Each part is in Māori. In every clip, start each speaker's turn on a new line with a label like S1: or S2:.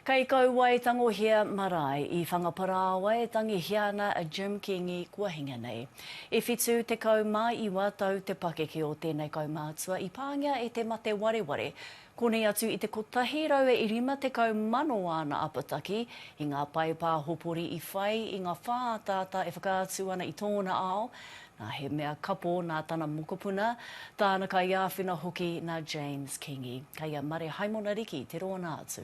S1: Kei Kauae tangohia marae i Whangaparāoa e tangihia ana a Jim Kingi kua hinga nei. I whitu tekau mā iwa tau te pakeke o tēnei kaumātua i pāngia e te mate wareware. Konei atu i te kotahi rau e rima tekau mano āna apataki i ngā pae pāhopori i whai i ngā whā ataata e whakaatu ana i tōna ao, Nā, he mea kapo nā tana mokopuna, tāna kaiāwhina hoki nā James Kingi. Kei a Mare Haimona Riki te rōna atu.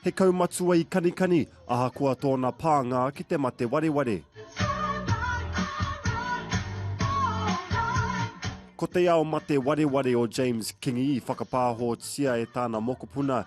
S2: He kaumatua i Kanikani, ahakoa tōna pānga ki te mate wareware. Ko te ao mate wareware o James Kingi i whakapāhotia e tāna mokopuna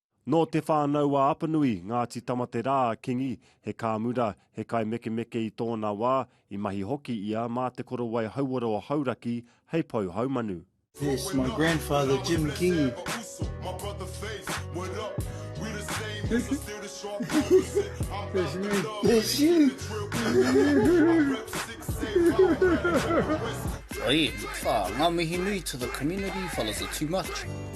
S3: Nō Te
S2: Whānau-a-Apanui, Ngāti Tamaterā, a Kingi, he kāmura, he kaimekemeke i tōna wā, i mahi hoki ia mā te korowai hauora o Hauraki hei pou haumanu. Yes, my
S4: grandfather Jim Kingi. That's me.
S3: Oi, wha, nga mihi nui to the community, fellas are too much.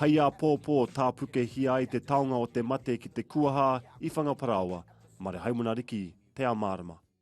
S2: Hei āpōpō, tāpukehia ai te taonga o te mate ki te kuaha i Whangaparāoa, Marehaimana Riki, Te Āmarama.